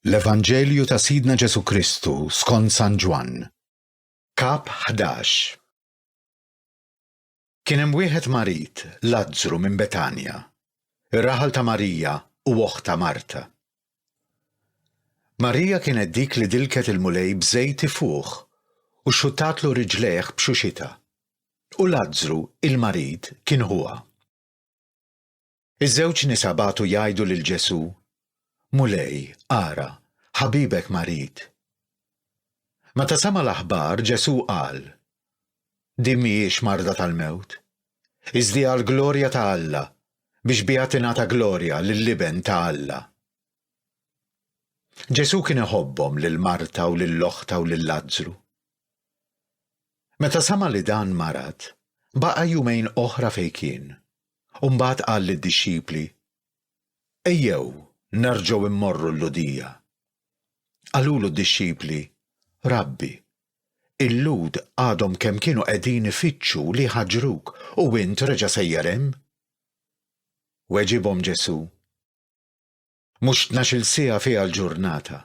L-Evanġelju ta' Sidna Ġesù Kristu skont San Ġwann. Kap 11 Kien hemm wieħed marid, Lazzru minn Betanja, ir-raħal ta' Marija u oħtha Marta. Marija kienet dik li dilket il-Mulej b'żejt ifuħ u xxuttatlu riġlejh b'xuxitha. U Lazzru, il-marid, kien ħuha. Iż-żewġ nisa bagħtu jgħidu lil Ġesù, Mulej, ara, ħabibek marid. Meta sema' l-aħbar, Ġesù qal, Din m'hijiex marda tal-mewt, iżdi għall-glorja ta' Alla, biex biha tingħata glorja lill-Iben ta' Alla. Ġesù kien iħobbhom lil Marta u lil oħtha u lil Lazzru. Meta sema' li dan marad, baqa' jumejn oħra fejn kien. u mbagħad qal lid-dixxipli, Ejjew nerġgħu mmorru l-Lhudija. Qalulu d-dixxipli, Rabbi, il-Lhud għadhom kemm kienu qegħdin ifittxu li jħaġġruk u int reġa' sejjer hemm? Weġibhom Ġesù, Mhux tnax-il siegħa fiha l-ġurnata.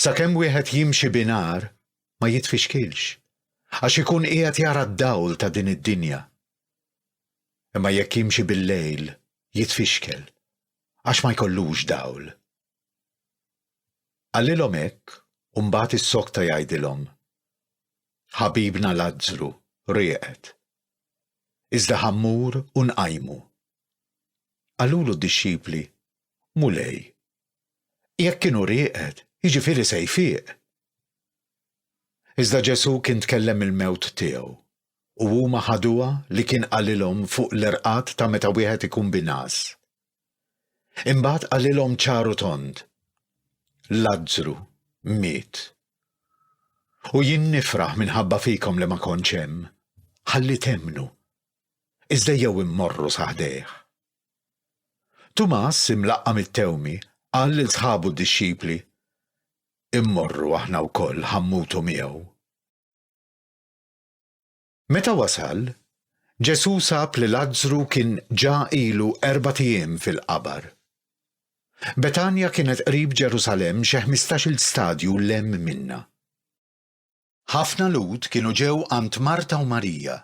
Sakemm wieħed jimxi binhar ma jitfixkilx, għax ikun qiegħed jara d-dawl ta' din id-dinja. Imma jekk jimxi bil-lejl jitfixkel, għax ma jkollux dawl. Qalilhom hekk u mbagħad issokta jgħidilhom, Ħabibna Lazzru rieqed. Iżda ħa mmur u nqajmu. Qalulu d-dixxipli, Mulej, jekk kienu rieqed, jiġifieri se jfiq. Iżda Ġesù kien tkellem il-mewt tiegħu, u huma ħaduha li kien qalilhom fuq l-irqad ta' meta wieħed ikun b'ingħas. Imbagħad qalilhom ċar u tond, Lazzru miet. U jien nifraħ minħabba fikom li ma kontx hemm, ħalli temmnu. iżda ejjew immorru sa ħdejh. Tumas, imlaqqa' mit-tewmi, qal lil sħabu d-dixxipli, Immorru aħna wkoll ħa mmutu miegħu. Meta wasal, Ġesù sab li Lazzru kien ġa ilu erbat ijiem fil-qabar. Betanja kienet qrib Ġerusalemm xi ħmistax-il stadju 'l hemm minnha. Ħafna Lhud kienu ġew għand Marta u Marija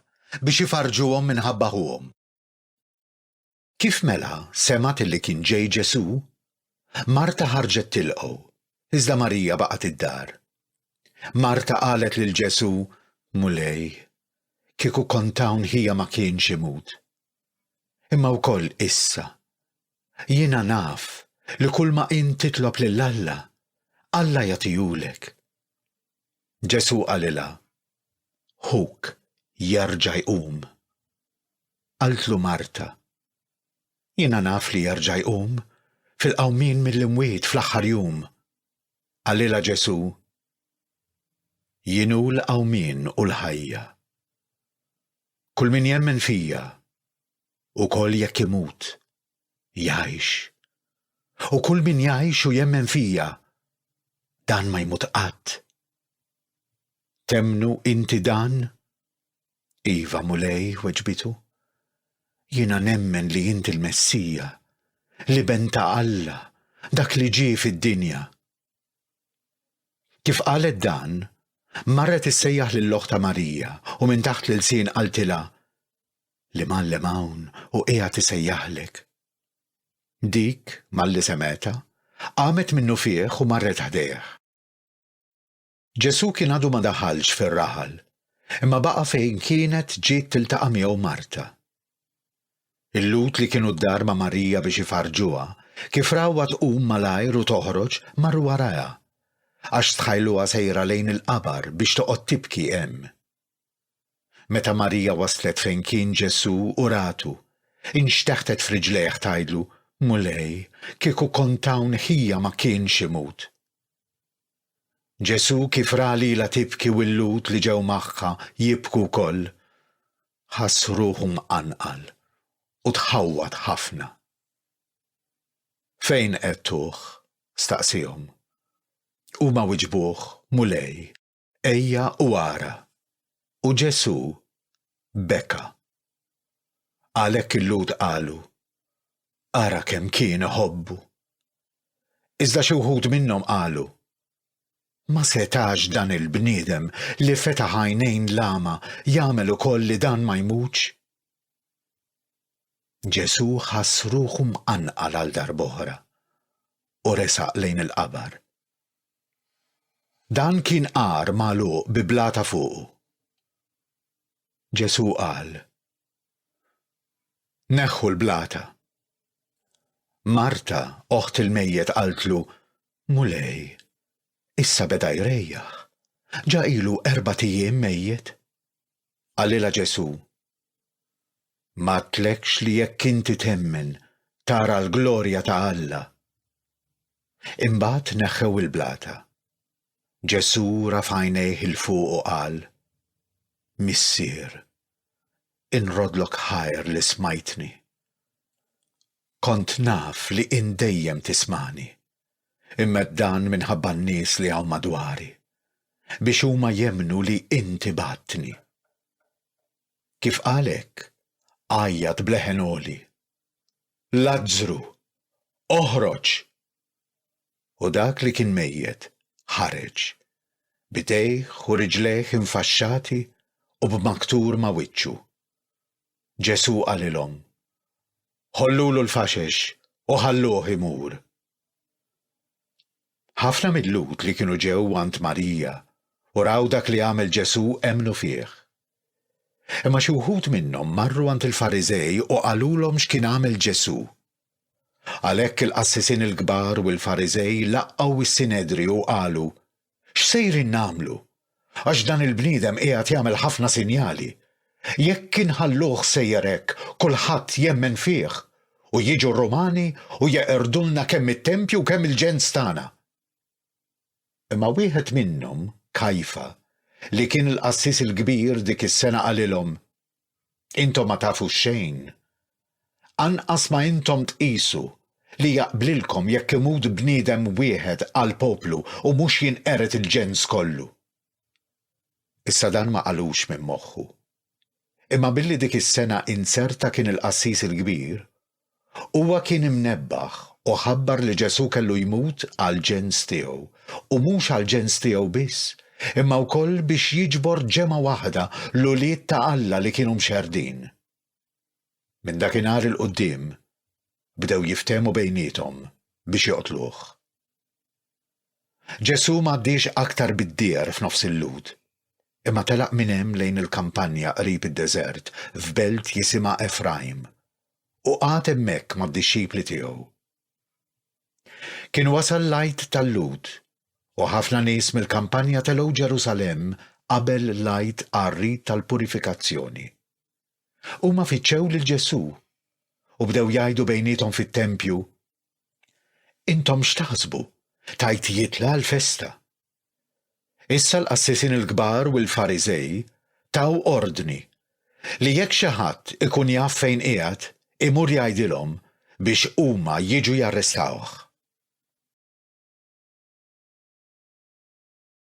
biex ifarrġuhom minħabba ħuhom. Kif mela semgħet illi kien ġej Ġesù? Marta ħarġet tilqgħu, iżda Marija baqgħet id-dar. Marta qalet lil Ġesù, Mulej, kieku kont hawn ħija ma kienx imut. Imma wkoll issa. Jiena naf li kulma int titlob lil Alla, Alla jagħtihulek. Ġesù qalilha, Ħuk jerġa' jqum. Qaltlu Marta, Jiena naf li jerġa' jqum fil-qawmien mill-imwiet fl-aħħar jum. Qalilha Ġesù, Jien hu l-qawmien u l-ħajja. Kull min jemmen fija, ukoll jekk imut, jgħix. U kull min jgħix u jemmen fija, dan ma jmut qatt. Temmnu inti dan? Iva, Mulej, weġbitu. Jiena nemmen li inti l-Messija, l-Iben ta' Alla, dak li ġie fid-dinja. Kif qalet dan, marret issejjaħ lil oħta Marija u minn taħt l-ilsien qaltilha, L-Imgħallem hawn u qiegħed isejjaħlek. Dik, malli semgħetha, qamet minnufih u marret ħdejh. Ġesù kien għadu ma daħalx fir-raħal, imma baqa' fejn kienet ġiet tiltaqa' miegħu Marta. Il-Lhud li kienu d-dar ma' Marija biex ifarrġuha, kif rawha tqum malajr u toħroġ, marru warajha, għax stħajluha sejra lejn il-qabar biex toqgħod tibki hemm. Meta Marija waslet fejn kien Ġesù u ratu, inxteħtet f'riġlejh tgħidlu, Mulej, kieku kont hawn ħija ma kienx imut. Ġesù kif ra lilha tibki u l-Lhud li ġew magħha jibku wkoll, ħass ruħu mqanqal u tħawwad ħafna. Fejn qegħdtuh? staqsiehom. Huma wiġbuh, Mulej, ejja u ara. U Ġesù beka. Għalhekk il-Lhud qalu, Ara kemm kien iħobbu! Iżda xi wħud minnhom qalu, Ma setax dan il-bniedem li fetaħ għajnejn l-agħma jagħmel ukoll li dan ma jmutx? Ġesù ħass ruħu mqanqal għal darb'oħra u resaq lejn il-qabar. Dan kien għar magħluq bi blata fuqu. Ġesù qal, Neħħu l-blata. Marta, oħt il-mejjet qaltlu, Mulej, issa beda jrejjaħ. Ġa ilu erbat ijiem mejjet. Qalilha Ġesù, M'għadtlekx li jekk inti temmen tara l-glorja ta' Alla. Imbagħad neħħew il-blata. Ġesù raf' għajnejh 'il fuq u qal, Missier, inroddlok ħajr li smajtni. Kont naf li int dejjem tismagħni, imma għedt dan minħabba n-nies li hawn madwari, biex huma jemmnu li int ibgħattni. Kif qal hekk, għajjat b'leħen għoli, Lazzru, oħroġ! u dak li kien mejjet ħareġ, b'idejh u riġlejh infaxxati u b'maktur ma' wiċċu. Ġesù qalilhom, Ħollulu l-faxex u ħalluh imur. Ħafna mil-Lhud li kienu ġew għand Marija u raw dak li għamel Ġesù emmnu fih. Imma xi wħud minnhom marru għand il-Fariżej u qalulhom x'kien għamel Ġesù. Għalhekk il-qassisin il-kbar u l-Fariżej laqgħu s-Sinedriju u qalu, X'sejrin nagħmlu? Għax dan il-bniedem qiegħed jagħmel ħafna sinjali. Jekk inħalluh sejjer hekk, kulħadd jemmen fih, u jiġu r-Rumani u jeqirdu lna kemm it-tempju u kemm il-ġens tagħna. Imma wieħed minnhom, Kajfa, li kien il-qassis il-kbir dik is-sena qalilhom, Intom ma tafux xejn. Anqas ma intom tqisu li jaqblilkom jekk imut bniedem wieħed għall-poplu u mhux jinqered il-ġens kollu. Issa dan ma qalux minn moħħu. Imma billi dik is-sena inzerta kien il-qassis il-kbir, huwa kien imnebbaħ u ħabbar li Ġesù kellu jmut għall-ġens tiegħu, u mhux għall-ġens tiegħu biss, imma wkoll biex jiġbor ġemgħa waħda, l-ulied ta' Alla li kienu mxerrdin. Minn dakinhar 'il quddiem bdew jiftehmu bejniethom biex joqtluh. Ġesù m'għaddiex aktar bid-djar f'nofs il-Lhud, imma telaq minn hemm lejn il-kampanja qrib id-deżert f'belt jisimha Efrajm, u qagħad hemmhekk mad-dixxipli tiegħu. Kien wasal l-Għid tal-Lhud, u ħafna nies mill-kampanja telgħu Ġerusalemm qabel l-Għid għar-rit tal-purifikazzjoni. Huma fittxew lil Ġesù, u bdew jgħidu bejniethom fit-tempju, Intom x'taħsbu, tajt jitla' l-festa? Issa l-qassisin il-kbar u l-Fariżej taw ordni li jekk xi ħadd ikun jaf fejn qiegħed, imur jgħidilhom biex huma jiġu jarrestawh.